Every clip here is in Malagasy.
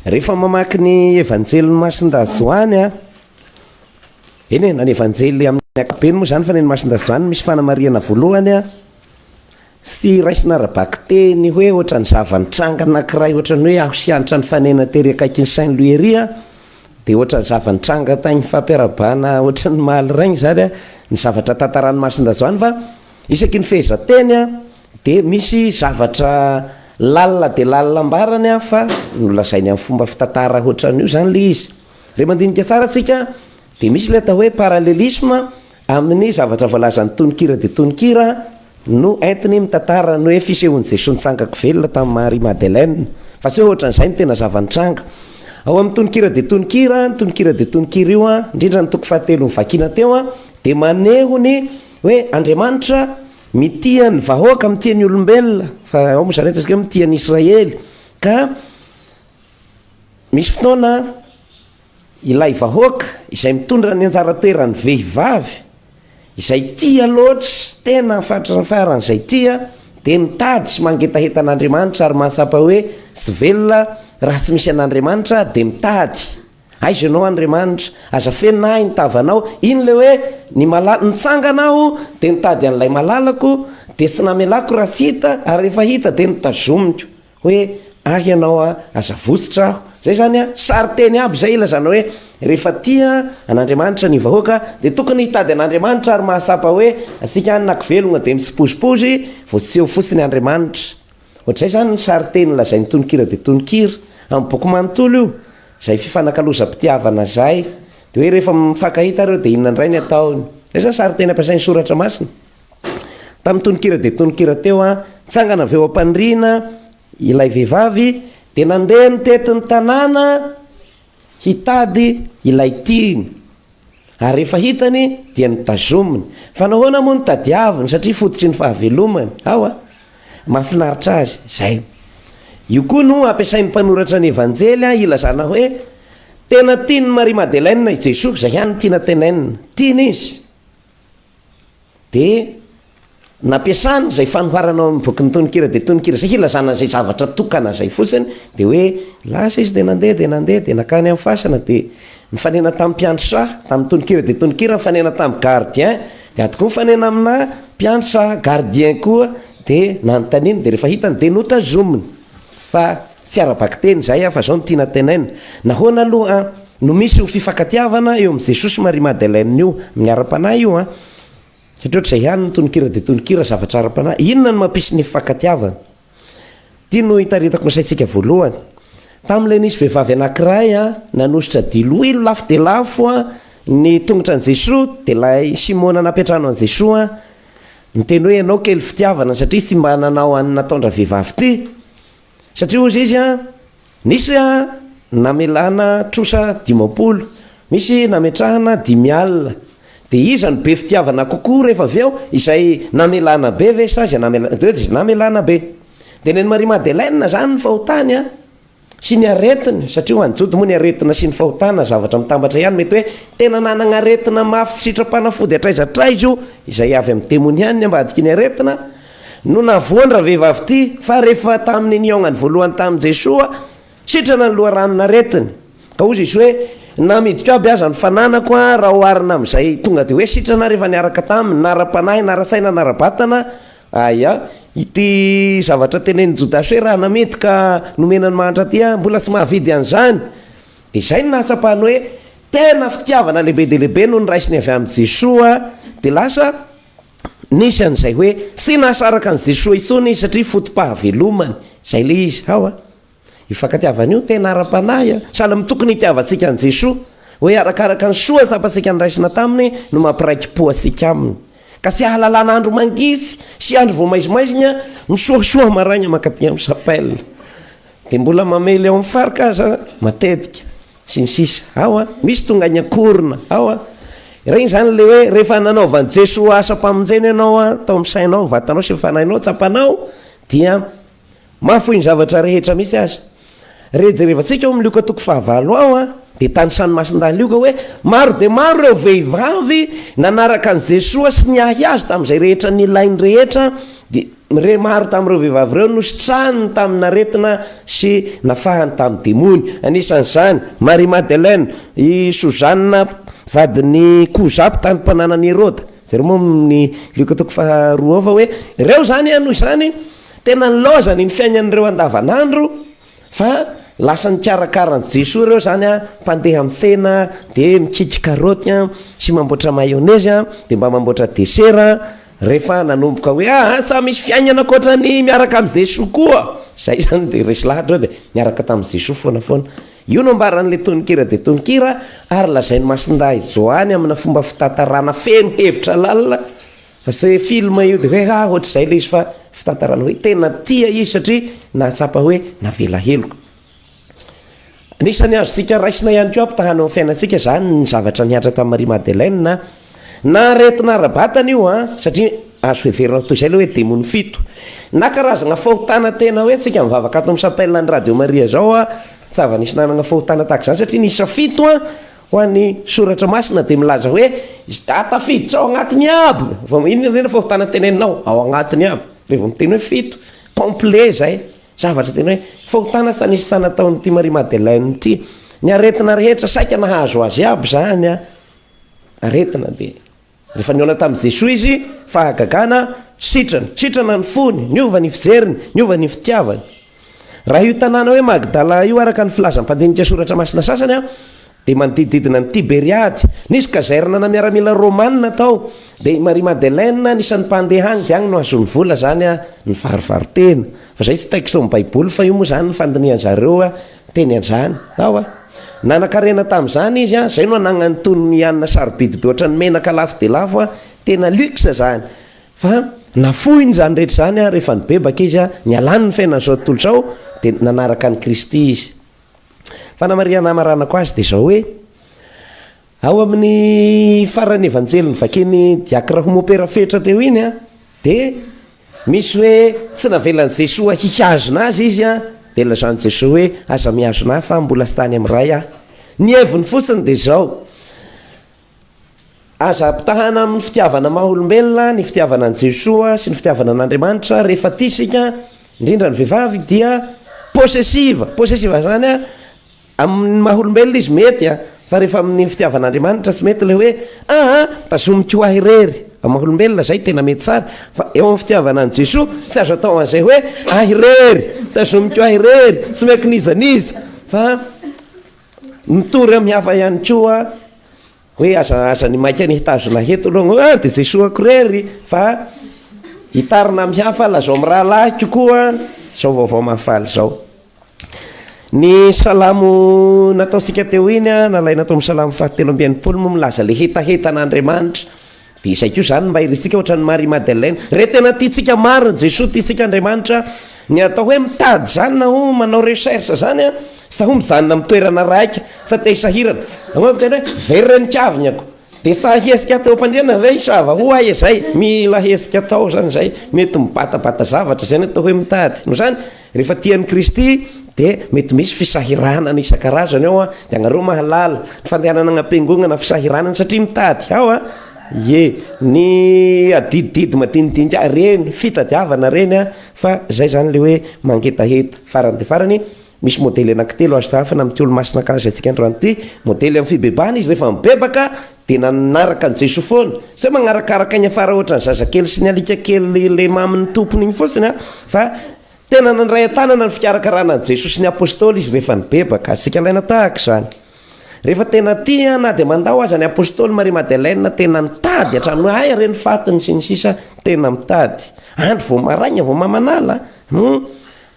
Rehefa mamaky ny Evanjelin'i Masindahy Joany a, eny e, na ny Evanjely amin'ny ankapobeny moa izany fa ny an'i Masindahy Joany misy fanamarihana voalohany a, sy raisina ara-bakiteny hoe ohatran'ny zava-nitranga anankiray ohatran'ny hoe aho sy Hanitra nifanena tery akaikin'i Saint Louis ery a, dia ohatran'ny zava-nitranga tany fampiarahabana ohatran'ny Mahaliraigny izany a, ny zavatra tantaran'i Masindahy Joany fa isaky ny fehezanteny a, Dia misy zavatra lalina dia lalina ambarany an, fa nolazainy amin'ny fomba fitantara hoatran'io izany ilay izy. Raha mandinika tsara tsika dia misy ilay atao hoe parallelisme amin'ny zavatra voalazan'ny tononkira dia tononkira no entiny mitantara ny hoe fisehoan'i Jesoa nitsangako velona tamin'i Marie Madeleine, fa tsy hoe ohatran'izay no tena zava-nitranga. Ao amin'ny tononkira dia tononkira, ny tononkira dia tononkira io an, indrindra ny toko fahatelo novakiana teo an, dia maneho ny hoe Andriamanitra, Mitia ny vahoaka, mitia ny olombelona, fa ao moa zany ataontsika hoe mitia an'i Israely, ka misy fotoana ilay vahoaka izay mitondra ny anjara toeran'ny vehivavy, izay tia loatra, tena fatrany farany izay tia, dia mitady sy mangetaheta an'Andriamanitra ary mahatsapa hoe tsy velona raha tsy misy an'Andriamanitra dia mitady. Aiza ianao Andriamanitra? Aza fenina ahy ny tavanao. Iny ilay hoe ny malala, nitsangana aho dia nitady an'ilay malalako dia tsy namelako raha tsy hita ary rehefa hita dia notazomiko hoe ahy ianao a, aza votsotra aho. Izay izany a, sarinteny aby izay ilazana hoe rehefa tia an'Andriamanitra ny vahoaka dia tokony hitady an'Andriamanitra ary mahatsapa hoe antsika any na kivelogna dia mitsipozipozy vao tsy eo fotsiny Andriamanitra. Ohatr'izay izany ny sarinteny lazain'ny tononkira dia tononkira amin'ny boky manontolo io, izay fifanakalozam-pitiavana izay. Dia hoe rehefa mifankahita ireo dia inona indray ny ataony. Izay izany sarinteny ampiasain'ny Soratra Masina. Tamin'ny tononkira dia tononkira teo an, nitsangana avy eo am-paniriana ilay vehivavy dia nandeha nitety ny tanàna, Hitady ilay tiany ary rehefa hitany dia notazominy. Fa nahoana moa no tadiaviny? Satria fototry ny fahavelomany ao a! Mahafinaritra azy izay. Io koa no ampiasain'ny mpanoratra ny Evanjely hilazana hoe tena tian'i Marie Madeleine i Jesoa, izay ihany no tiana tenenina. Tiany Izy. Dia nampiasany izay fanoharana ao amin'ny bokin'ny tononkira dia tononkira izay hilazana an'izay zavatra tokana izay fotsiny, dia hoe lasa izy dia nandeha dia nandeha dia nankany amin'ny fasana dia nifanena tamin'ny mpiandry saha, tamin'ny tononkira dia tononkira nifanena tamin'ny gardien, dia ato koa mifanena aminà mpiandry saha, gardien koa dia nanontaniany dia rehefa hitany dia notazominy. Fa tsy ara-bakiteny izay an, fa izao no tiana tenaina, nahoana aloha an, no misy io fifankatiavana eo amin'i Jesosy sy Marie Madeleine io, amin'ny ara-panahy io an, satria ohatr'izay ihany ny tononkira dia tononkira, zavatra ara-panahy, inona no mampisy ny fifankatiavana? Ity no itaritako ny saintsika voalohany, tamin'ilay nisy vehivavy anankiray an, nanositra diloilo lafo dia lafo an, ny tongotra an'i Jesoa, dia ilay Simona nampiantrano an'i Jesoa an, Miteny hoe ianao kely fitiavana satria tsy mba nanao an'ny nataon-dravehivavy ty. Satria hozy izy an, nisy an namelana trosa dimampolo, misy nametrahana dimy alina. Dia iza no be fitiavana kokoa rehefa avy eo, izay namelana be ve sa izay namelana kely? Dia izay namelana be. Dia nen'i Marie Madeleine izany ny fahotany an. sy ny aretina, satria ho an'ny Jody moa ny aretina sy ny fahotana zavatra mitambatra ihany, mety hoe tena nanagna aretina mafy sy sitrapanafody hatraiza hatraiza io, izay avy amin'ny demoniany ny ambadiky ny aretina, no nahavoa ny ravehivavy ity, fa rehefa tamin'ny nihaognany voalohany tamin'i Jesoa, sitrana ny loharanon'aretiny, ka hozy Izy hoe, na midiko aby aza ny fananako raha oharina amin'izay tonga dia hoe sitrana ary efa niaraka taminy, na ara-panahy, na ara-tsaina, na ara-batana, Aia ity zavatra tenenin'i Jodasy hoe raha namenty ka nomena ny mahantra aty aho mbola tsy mahavidy an'izany? Dia izay no nahatsapany hoe tena fitiavana lehibe dia lehibe no noraisiny avy amin'i Jesoa, dia lasa nisy an'izay hoe tsy nahasaraka an'i Jesoa intsony izy satria foto-pahavelomany, izay ilay izy. Hawa. Io fankatiavana io tena ara-panahy a! Sahala amin'ny tokony hitiavantsika an'i Jesoa, hoe arakaraka ny soa asapantsika noraisina taminy no mampiraiki-po antsika aminy. Ka tsy ahalalana andro mangisy sy andro vao maizimaizina misoasoa maraina mankaty amin'ny chapelle, dia mbola mamely ao amin'ny farc aza matetika, sy ny sisa Ao a! Misy tonga any an-korona ao a! Ireny izany ilay hoe rehefa nanaovan'i Jesoa asam-pamonjena ianao a, tao amin'ny sainao, ny vatanao sy ny fanahinao tsapanao dia Mahafoy ny zavatra rehetra mihitsy aza. Re jerevantsika ao amin'ny Lioka toko fahavalo ao an, dia tanisan'ny masindahy Lioka hoe maro dia maro ireo vehivavy nanaraka an'i Jesoa sy niahy Azy tamin'izay rehetra nilainy rehetra, dia re maro tamin'ireo vehivavy ireo no sitrahany tamin'aretina sy nafahany tamin'ny demony. Anisan'izany, Maria Madeleine, i Sozana vadin'i Koza mpitandro mpananan'i Heroda. Jereo moa amin'ny Lioka toko faharoa ao fa hoe ireo izany an, noho izany, Tena nilaozany ny fiainan'ireo andavanandro fa lasa nikarakara an'i Jesoa ireo izany an, mpandeha mifena dia mikiky karaoty an, sy mamboatra mayonezy an, dia mba mamboatra desera an, rehefa nanomboka hoe ah ah sa misy fiainana ankoatra ny miaraka amin'i Jesoa koa, izay izany dia resy lahatra eo dia niaraka tamin'i Jesoa foana foana. Io no ambaran'ilay tononkira dia tononkira ary lazain'i Masindahy Joany amina fomba fitantarana feno hevitra lalina, Fa se film io de hoe ah ohatr'izay le izy fa fitantarana hoe tena tia izy satria nahatsapa hoe navela heloka. Anisan'ny azontsika raisina ihany koa mpitahana eo amin'ny fiainantsika izany ny zavatra nihatra tamin'i Marie Madeleine na aretina ara-batana io an, satria azo heverina ho toy izay le hoe demony fito na karazagna fahotana tena hoe antsika mivavaka ato amin'ny chapelle an'i Radio Maria izao an, tsy zava-nisy nanagna fahotana tahaka izany satria niisa fito an, Ho an'ny Soratra Masina dia milaza hoe, Izay tafiditra ao anatin'ny abo. Vao inona indray ny fahotana teneninao? Ao anatin'ny abo. Dia vao miteny hoe fito. Complet izay. Zavatra tena hoe fahotana tsy nisy tana tao amin'ity Marie Madeleine ity. Ny aretina rehetra saika nahazo azy aby izany an. Aretina dia Rehefa nihaona tamin'i Jesoa izy, fahagagana, sitrana, sitrana ny fony, niova ny fijeriny, niova ny fitiavany. Raha io tanàna hoe Magdala io, araka ny filazan'ny mpandinika Soratra Masina sasany, dia manodidididina an'i Tiberiady. Nisy kazernana miaramila romanina tao, dia i Maria Madeleine, anisan'ny mpandeha any, dia any no azon'ny vola izany nivarivaro-tena. Fa zay tsy texte ao am baiboly fa io moa zany fandinihan zareo teny anjany ao a. Nanakarena tam zany izy a, zay no anagnany tony ny hanina sarobidy be otran'ny menaka lafo dia lafo a, tena luxe zany. Fa nafoiny zany rehetra zany a rehefa nibebaka izy a, nialany ny fiainany zao tontolo zao dia nanaraka an'i kristy izy. Fanamarihana hamaranako azy dia izao hoe, ao amin'ny faran'ny Evanjely novakian'i Diacre Homope Rafetra teo iny an, dia misy hoe tsy navelan'i Jesoa hihazona azy izy an, dia nilazan'i Jesoa hoe aza mihazona ahy fa mbola tsy tany amin'ny Ray aho. Ny heviny fotsiny dia izao, Aza ampitahana amin'ny fitiavana maha olombelona ny fitiavana an'i Jesoa sy ny fitiavana an'Andriamanitra, rehefa tia isika, indrindra ny vehivavy dia possessive, possessive zany a, amin'ny maha olombelona izy mety a, fa rehefa amin'ny fitiavana Andriamanitra tsy mety ilay hoe aa tazomiko ahy irery, amin'ny maha olombelona izay tena mety tsara, fa eo amin'ny fitiavana an'i Jesoa tsy azo atao an'izay hoe ahy irery, tazomiko ahy irery, tsy miankin'iza n'iza, fa. Nitory amin'ny hafa ihany koa hoe aza aza ny maika ny hitazona heto aloha ah de Jesoa korery fa hitarina amin'ny hafa lazao amin'ny rahalahiko koa zao vaovao mahafaly zao. Ny salamo nataontsika teo iny a nalaina tao amin'ny salamo fahatelo amby enimpolo moa milaza le hetahetan'Andriamanitra Dia izay koa izany ny maherintsika ohatran'i Marie Madeleine. Re tena tiantsika marina an'i Jesoa, tiantsika Andriamanitra, ny atao hoe mitady izany na hoe manao recherche izany an, sa hoe mijanona amin'ny toerana raika, sa te hisahirana. Angamba miteny hoe very re ny kavignako. Dia sahy hihetsika teo am-pandriana ve hisava? Ho ahy izay, mila hihetsika tao izany izay, mety mibatabata zavatra izay ny atao hoe mitady. Noho izany. Rehefa tia an'i Kristy dia mety misy fisahiranana isan-karazany ao an, dia anareo mahalala ny fandehanana anam-piangongana fisahiranana satria mitady ao an, ie ny adidididy madinidinika ireny fitadiavana ireny an, fa zay zany le hoe mangetaheta. Farany dia farany misy modely anankitelo azo tahafina amin'ity olomasina ankahazaintsika androany ity, modely amin'ny fibebahana izy rehefa mibebaka Dia nanaraka an'i Jesoa foana. Sao magnarakaraka igny afara ohatran'ny zazakely sy ny alika kely lema amin'ny tompony igny fotsiny an! Fa tena nandray an-tanana ny fikarakarana an'i Jesoa sy ny Apostoly izy rehefa nibebaka. Azontsika alaina tahaka izany. Rehefa tena tia na dia mandao aza ny Apostoly Marie Madeleine, tena mitady hatramin'ny hoe aia re ny fatiny sy ny sisa, tena mitady. Andro vao maraigna vao mamanala an!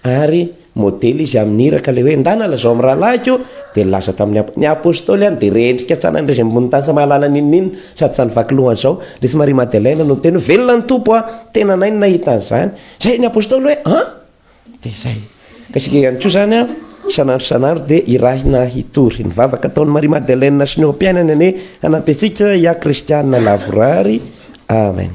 Ary modely izy amin'ny iraka ilay hoe, Ndana lazao amin'ny rahalahiko, dia nilaza tamin'ny apo-. Ny apostoly any dia rendrika tsy hanan'ny raisin'ny bon'ny tany tsy mahalala n'inon'inona sady tsy han'ny vaky lohany izao. Lesy Maria Madeleine no niteny hoe, Velona ny Tompo a! Tena anay no nahita an'izany. Izay ny apostoly hoe, An! Dia izay. Ka isika ihany koa izany an, isan'andro isan'andro dia hirahina hitory. Ny vavaka ataon'i Maria Madeleine sy ny eo am-piainany anie hanampy antsika hiahy kristiana lavorary. Amen.